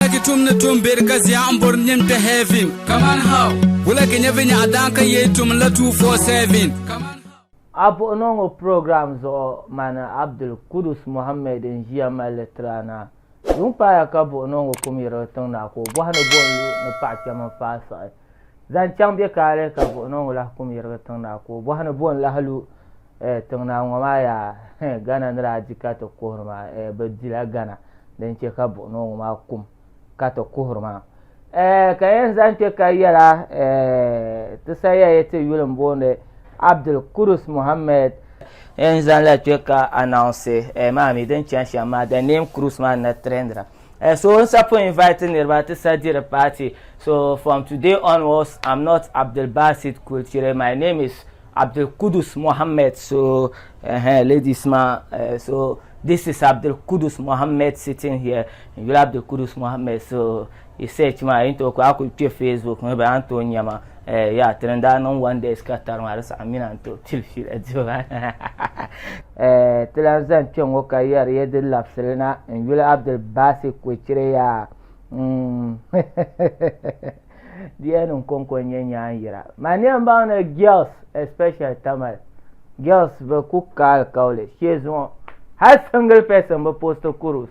Wulagi tum ni tum beri ka zia n bori nim kpɛ heaven. Kaman how? Wulagi nyɛ vi nyaɣa daan ka yee tum la 247. Kaman how? A puɣi noo ŋɔ program zuɣu mani Abdul Kudus Mohammed n ʒiya mali li tiri a na. Yuŋ paaya ka buɣi noo ŋɔ kum yirigi tiŋ na ka o bɔhi ni buɣim lu ni paɣa kpɛm n faai siɣi. Zaŋ chaŋ bɛ kaali ka buɣi niŋ lahi kum yirigi tiŋ naa ka o bɔhi ni bo n-lahi lu eh, tiŋ naa ŋɔ maa yaa eh, Ghana ni daa di ka ti kuhiri maa eh, bɛ dila Ghana din che ka buɣi niŋ ŋɔ maa kum ka ti kuhiri maa eh, ka yɛn zaŋ kpe ka yɛla eh, ti saya ya ti yuli m-boondi Abdul Kudus Mohammed yɛn zaŋla kpe ka announce eh, maa mi din chani shɛm maa the name Kudus maa na trendira. Eh, so n sapɔ invite niriba ti sa diri party so from today onwards i'm not abdul basit kulchire my name is abdul kudus mohammed so uh, ladies ma uh, so this is abdul kudus mohammed sitting here n yuli abdul kudus mohammed so research ma yin to ko a kuli kpe facebook ŋɔ ba an to nyama Eh, ya ti ni daa niŋ one days ka tari maa di saɣim mina n tooi pili fiila dibu maa eh, ti lan zani kpe ŋɔ ka yɛri ya di labisili na n yuli Abdul Basit Kwecire yaa mm. di yɛn niŋ kɔŋko n nyɛ nyaanyira ma ni yɛn baŋ ni girls especially Tamale girls bi ku ka alikauli shee zuŋɔ hali single person bi post kurus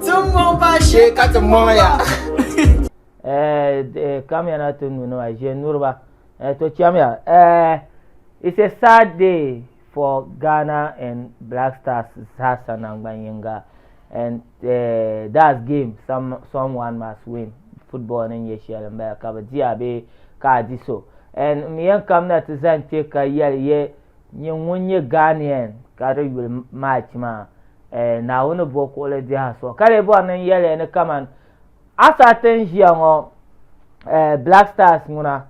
Ti mɔŋ ba shee ka ti mɔŋ ya. Kamya na ti nu nima ʒe nuriba. To chɛmiya. It's a sad day for Ghana and Black Stars zaasa nangbani yinga and that's game someone must win football ni nyɛ shɛli n bala ka bi diya bee ka a di so and n mi yɛn kamina ti zani kpɛ ka yɛli yɛ Nyɛ ŋun nyɛ Ghanaian ka di yuli March maa eh, Naawuni bo kuɣili biɛha so ka lee bɔri ni n yɛli ya ni kaman a saha ti ni ʒiya ŋɔ eh, Black Stars ŋuna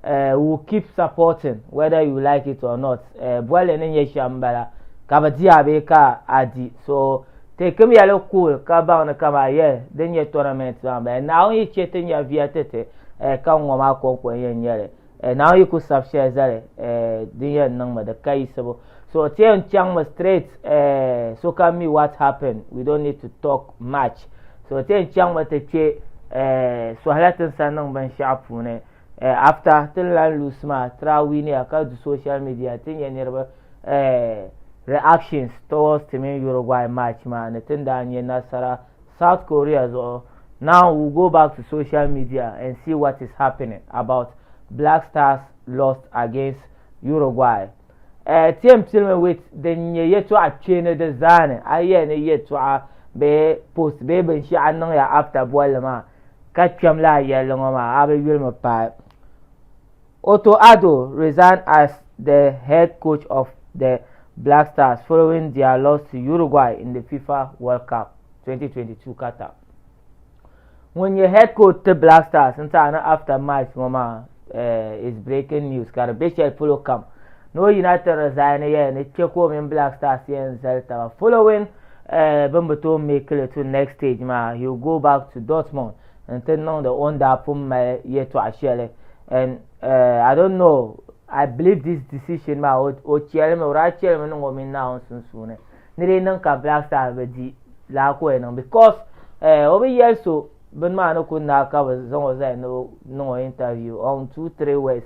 eh, we will keep supporting whether you like it or not eh, bolli ni nyɛ shɛm m-bala ka bi di a bee ka a di so teekim ya li cool ka baŋ ni kaman yeah din nyɛ tournament maa m-bala Naawuni yi chɛ ti nya viya ti ti eh, ka ŋ ŋɔ maa kɔŋko n-yɛn nyɛ li. eh, na yi ku sabi shɛli zali eh, din yɛn niŋmi di ka yiɣisibu so ti yɛn chaŋmi straight eh, sokam mi what happened we don't need to talk much so ti yɛn chaŋmi ti kpe eh, sɔhila tin sa niŋ binshɛɣu puuni eh, after tin lan lusi maa tira winiya ka du social media ti nyɛ niriba eh, reactions towards timin Uruguay match maa ni tin daa nyɛ nasara South Korea zuɣu Now we'll go back to social media and see what is happening about Black Stars lost against Uruguay. Eh, ti yɛn pilimi wit din nyɛ yɛtɔɣa kpee ni di zaa ni, a yɛn ni yɛtɔɣa bee post bee binshɛɣu niŋ ya after bolli maa ka kpɛm laa yɛlli ŋɔ maa a bi yulimi paai. Otto Addo resigned as the head coach of the Black Stars following their loss to Uruguay in the FIFA World Cup 2022 Qatar. Ŋun nyɛ head coach ti Black Stars n taɣi ni after match ŋɔ maa eh, is breaking news ka di be shɛli polo kam ni o yina ti resign yɛli ni kpe ka o mini Black Stars yɛn zali taba following eh, bin bi tooi make li to next stage maa he will go back to Dortmund n ti niŋdi o ni daa pun mali yɛtɔɣa shɛli and uh, I don't know I believe this decision maa o chɛlimi o daa chɛlimi niŋ o mini Naawuni sunsuuni ni dee niŋ ka Black Star bi di laa ka o yɛn niŋ because uh, o bi yɛli so bini maa ni ku naa ka bi zaŋ o zali ni o niŋ o interview on two three words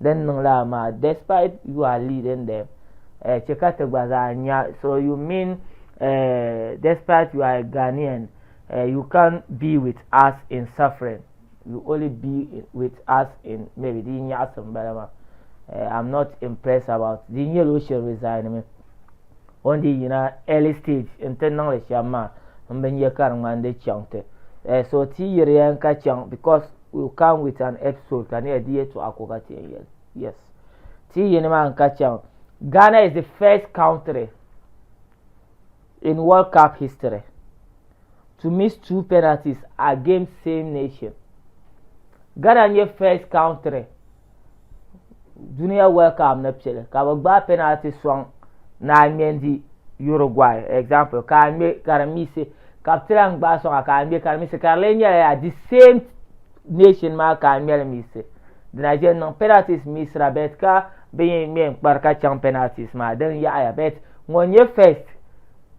din niŋ la maa despite you are leading them eh, chɛ ka ti gba zaa nya so you mean eh, despite you are a Ghanaian eh, you can't be with us in suffering you only be with us in maybe di nyaɣisi n bala maa eh, I'm not impressed about di nyɛla o shiri resign mi on di yina early stage n ti niŋli shɛm maa n bi nyɛ ka di ŋmani di chaŋ ti eh, so ti yiri yɛn ka chaŋ because will come with an episode ka near di yɛtɔɣa ko ka ti yɛn yɛli yes ti yini maa n ka chaŋ Ghana is the first country in World Cup history to miss two penalties against same nation Ghana nyɛ first country duniya World Cup ni piɛli ka bi gbaai penalty sɔŋ ni a ŋmɛ n-di Uruguay example ka a ŋmɛ ka di miisi ka bi tila n gbaai sɔŋa ka a ŋmɛ ka di miisi ka di lee nyɛla yaa the same nation maa ka a ŋmɛ li miisi dina ʒe n niŋ penalties miisira bet ka bin yi ŋmɛ n kpari ka chaŋ penalties maa din yaɣiya bet ŋun nyɛ first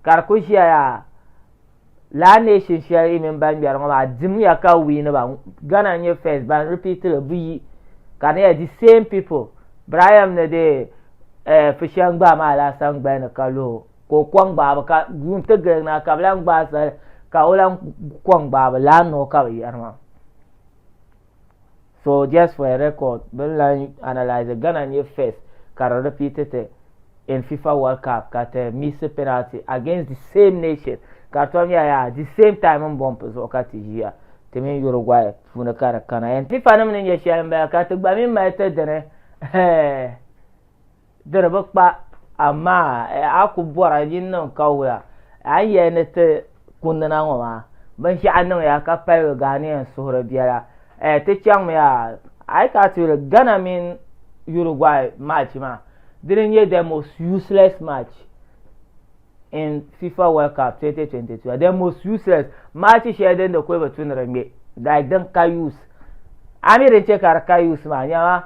ka di ku ʒiya yaa laa nation shɛli yi mini ban ŋmɛri ŋɔ maa dimiya ka wiini ba Ghana n-nyɛ first ban repeat li buyi ka di nyɛla the same people Brian ni di eh, Fushan gbaai maa laasa n gbali ni ka luhi ka o kɔŋ gbaabu ka yuun ti giligi na ka bɛ lan gbaai sali ka o lan kɔŋ gbaabu laa ni o ka bɛ yɛri maa. So just for a record, bin lan analyse Ghana ni first ka di repeat ti in FIFA World Cup ka ti miss penalty against the same nation ka di tom nyɛla yaa the same time n bump zuɣu ka ti ʒiya ti mini Uruguay puuni ka di kana and FIFA nim ni nyɛ shɛli n bala ka ti gba mi mali ti dini Di di bi kpa, amaa a ku bɔra nyin niŋ kawuya a ni yɛli ni ti kundina ŋɔ maa, binshɛɣu niŋya ka paligi Ghanaian suhuri biɛla. Eh, ti chaŋmiya, a yi kana ti yuli Ghana mini Uruguay match maa, dini n-nyɛ the most useless match. in FIFA World Cup 2022 the most useless match shɛli din di kuli bi tu ni di ŋmɛ like din ka use a mi din chɛ ka di ka use maa nyɛma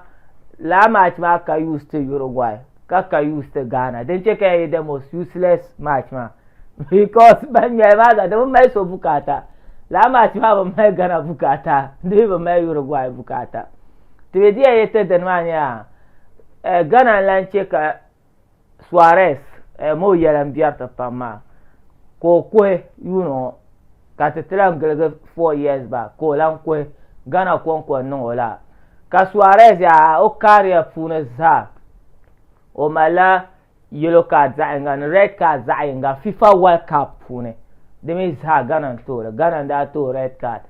laa match maa ka use ti Uruguay ka ka use ti Ghana din chɛ ka yɛn nyɛ the most useless match maa because ban ŋmɛli maa zaa di bi mali so bukaata laa match maa bi mali Ghana bukaata di mi bi mali Uruguay bukaata ti be di yɛn yɛ ti dini maa nyɛla eh, Ghana n lan chɛ ka Suarez eem o yɛla n biɛri ti pam maa ka o kuhi yuuni ŋɔ ka ti ti lan giligi four years back ka o lan kuhi Ghana kɔŋko n-niŋ o la ka Suarez yaa o career puuni zaa o malila yellow card zaɣ'yiŋga ni red card zaɣ'yiŋga FIFA World Cup puuni di mi zaa Ghana n-tooi li Ghana n-daa tooi red card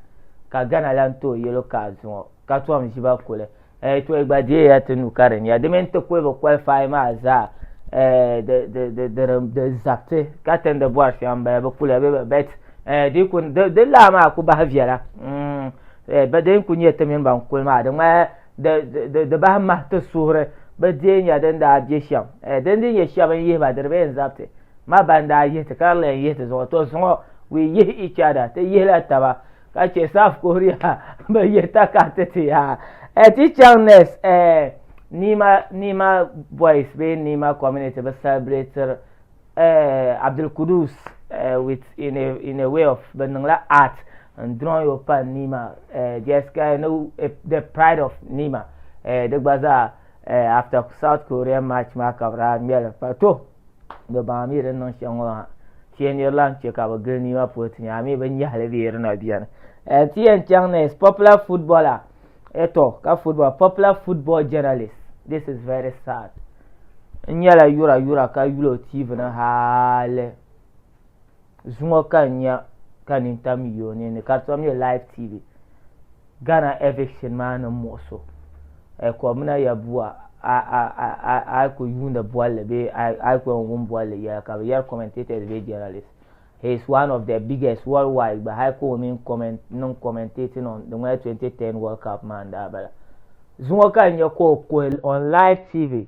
ka Ghana lan tooi yellow card ŋɔ ka tom ʒiba kuli eh, to gba deeya ti nu ka di nya di mini ti kuli bi qualify maa zaa eh, di zabiti ka tindi bɔri shɛŋa n bala bi kuliya bɛ bet eh, di ku di laa maa ku bahi viɛla mm, eh, din ku nyɛ ti mini ban kuli maa di ŋmaya di bahi mahi ti suhuri bi deei nya din daa bɛ shɛm eh, din di nyɛ shɛba n yihiba di di bɛ n zabiti ma ban daa yihi ti ka di lee n yihi ti zuɣu to zuɣu we yihi each other ti yihila taba ka chɛ South Korea bi yɛ takariti ti ya eh, ti chaŋ next eh, Nima Nima boys bee Nima community bi celebrater eh, Abdul Kudus eh, with in a, in a way of bi niŋla art n drawing yo pa Nima eh, just ka no eh, the pride of Nima eh, di gba zaa eh, after South Korea match maa ka bi daa ŋmɛli pa to Bɛ baŋ a mi din niŋ shɛŋ ŋɔ ha. Ti yɛn niri lan chɛ ka bɛ gili nii maa polo ti nya a mi bɛ nyɛhili bɛ yiri na beni. Eh, ti yɛn chaŋ next, popular footballer. Eh tɔ, ka football, popular football journalist. This is very sad. N nyɛla yura yura ka yuli o TV ni haali. zuŋɔ ka n nya ka nini tam yi o ninni ka di tom nyɛ live tv ghana eviction maa ni muɣu so eh, kɔbina ya bua a ku yuuni bolli bee a ku yɛn wum bolli yɛla ka bi yɛri commentators bee journalists he is one of the biggest worldwide gba hali ka o mini comment niŋ commentating on di ŋmɛli 2010 world cup maa n daa bala zuŋɔ ka n nyɛ ka o kuhi on live tv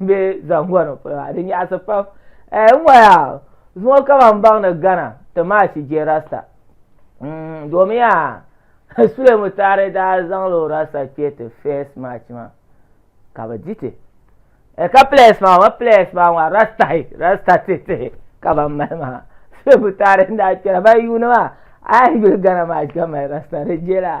Be zaŋ ŋɔ ni polo maa di nyaɣisi pam. Ɛɛ n ŋɔ yaa zuŋɔ kama m baŋ ni Ghana ti maa chi je rasta mm domin yaa Sule Mutari daa zaŋ la o rasta kpe ti first match maa ka bi di ti ɛɛ ka players maa ŋɔ players maa ŋɔ rasta hi rasta ti ti hi ka ban mali maa Sule Mutari n daa kpɛra ban yuuni maa a yi yuli Ghana match ka mali rasta di je la.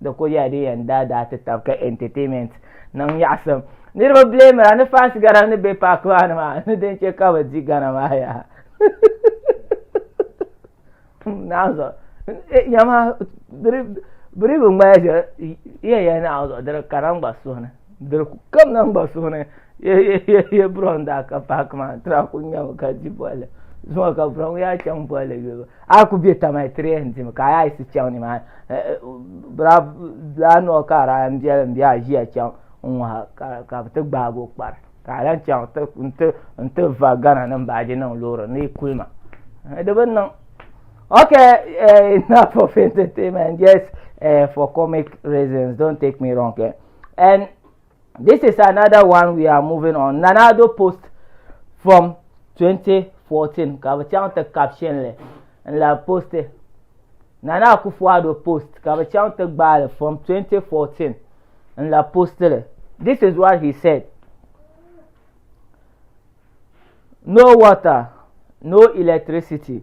di kuli yɛla din yɛn daa daa ti tab ka entertainment niŋ nyaɣasim niriba bileemira ni fans gana ni be paaki maa ni maa ni din che ka bi di gana maa yaa naɣazuɣu yama biri bi ŋmaya yɛn yɛn naɣazuɣu diri kana n gba suhuni Diri ku kam na gba suhu ni ye bro n daa ka paaki maa tira ku nyami ka di bolli zuŋɔ ka bro ŋɔ chaŋ bolli yulibu a ku be tamali tiri yɛn dimi ka a yiɣisi chaŋ nimaa eh, eh, bra laa noo ka a n biɛli n bɛ a ʒiya chaŋ n ŋɔha ka bi ti gbaagi o kpari ka a lan chaŋ n ti va gana ni n baaji niŋ loori ni kulima eh, di bi niŋ Okay, uh, enough of entertainment. Just uh, for comic reasons, don't take me wrong. Eh? and this is another one we are moving on nanado post from 2014 ka bi chaŋ ti caption li n la post nana akufuado post ka bi chaŋ ti gbaali from 2014 n la post li this is what he said no water no electricity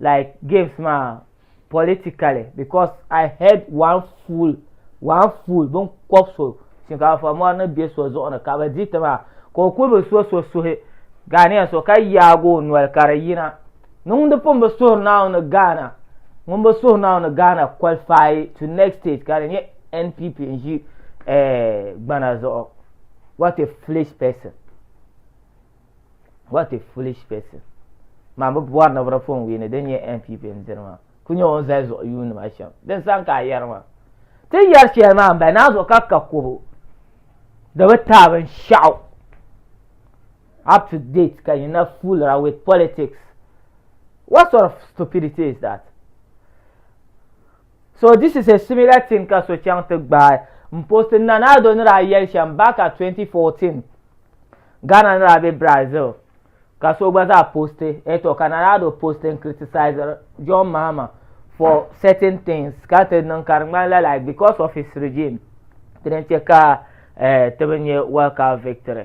like games maa politically because I heard one fool one fool bin kɔb so shinkaafa mɔri ni bɛ so zuɣu ni ka bi di ti maa ka o kuli bi so so suhi Ghanaian so ka yaagi o noli ka di yina ni ŋun di pun bi suhuri naaw ni Ghana ŋun bi suhuri naaw ni Ghana qualify to next stage ka di nyɛ NPP n ʒi eh, gbana zuɣu what a foolish person. what a foolish person maa bi bɔri ni biri fon wiini din nyɛ npp n diri maa ku nyɛ o zali zuɣu yuuni ma shɛm din san ka a yɛri maa ti yɛri shɛli maa n bala naa zuɣu ka ka kobo di bi taai binshaɣu up to date ka yina foolira with politics what sort of stupidity is that So this is a similar thing ka so chaŋ ti gbaai m post n Nana Addo ni daa yɛli shɛm back at 2014 Ghana ni daa be Brazil ka so gba zaa post eh tɔ ka Nana Addo post n criticiziri John Mahama for certain things ka ti niŋ ka di ŋmanila like because of his regime dini n-che ka eh ti bi nya welcome victory.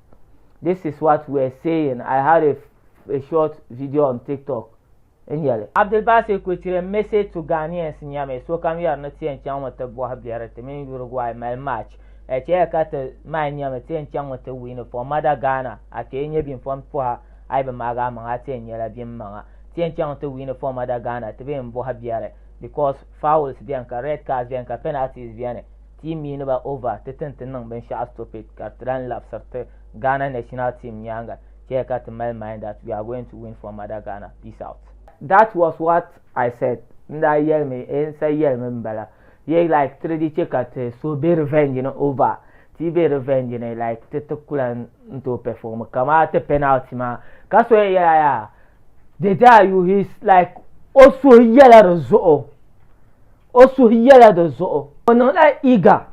This is what we are saying. I had a, a short video on TikTok. N yɛli. Abdulbasir Kuchirem message to Ghanaians nyɛmi sokam yɛri ni ti yɛn chaŋmi ti bɔhi biɛri ti mini Uruguay mali match a chɛya ka ti maai nyɛmi ti yɛn chaŋmi ti wiini for mother Ghana a kpee nyɛ bim fɔm pɔha a yi bi maagi a maŋa a ti yɛn nyɛla bim maŋa ti yɛn chaŋmi ti wiini for mother Ghana ti bi yɛn bɔhi biɛri because fouls bɛni ka red cards bɛni ka penalties bɛni Ti yi mini ba over ti tin ti niŋ binshɛɣu stupid ka ti lan labisiri ti Ghana national team nyaaŋa chɛya ka ti mali mind that we are going to win for mother Ghana. Peace out. That was what I said n daa yɛlimi ee n sa yɛlimi n bala yee like ti di chɛ ka ti so be revenge ni over ti yi be revenge ni like ti ti kulan n tooi perform kamaa ti penalty maa ka so yɛn yɛla yaa did I you he's like o suhu yɛla di zuɣu. O suhu yɛla di zuɣu. O niŋla Iga,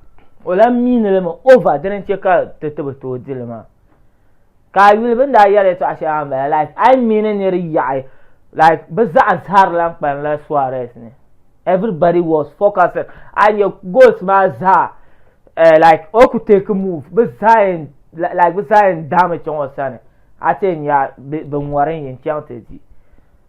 o lahi miini li mi Ova dini n-chɛ ka ti ti bi tooi di li maa. Ka a yuli bɛn daa yɛli yɛtɔɣ shɛli maa m-bala, like, a yi miini nir yaɣi, like, bɛ zaɣ zahir lan kpalimla Suarez ni. Everybody was focusing, a yi nya goals maa zaa, eh, like, o ku take move, bɛ zaa yɛn, like, bɛ zaa yɛn daami chaŋ o sani, a ti yɛn nya bɛ ŋɔri n-yɛn chaŋ ti di.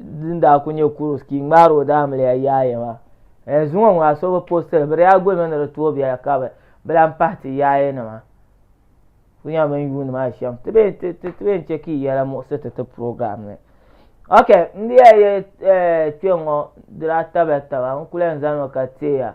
din daa ku nyɛ kurus ka i ŋmaari o daa miliya yaaya maa eh, zuŋɔ ŋɔ a so bi postili bi daa gulimi ni di tooi biɛla ka bi bi lan pahi ti yaaya nima ku nyɛ bin yuuni maa shɛm ti bee ti ti ti bee n chɛ ka i yɛla muɣisi ti ti program ni ok n diya yɛ eh, kpɛ ŋɔ di daa tabiya taba n kuli yɛn zani mi ka teeya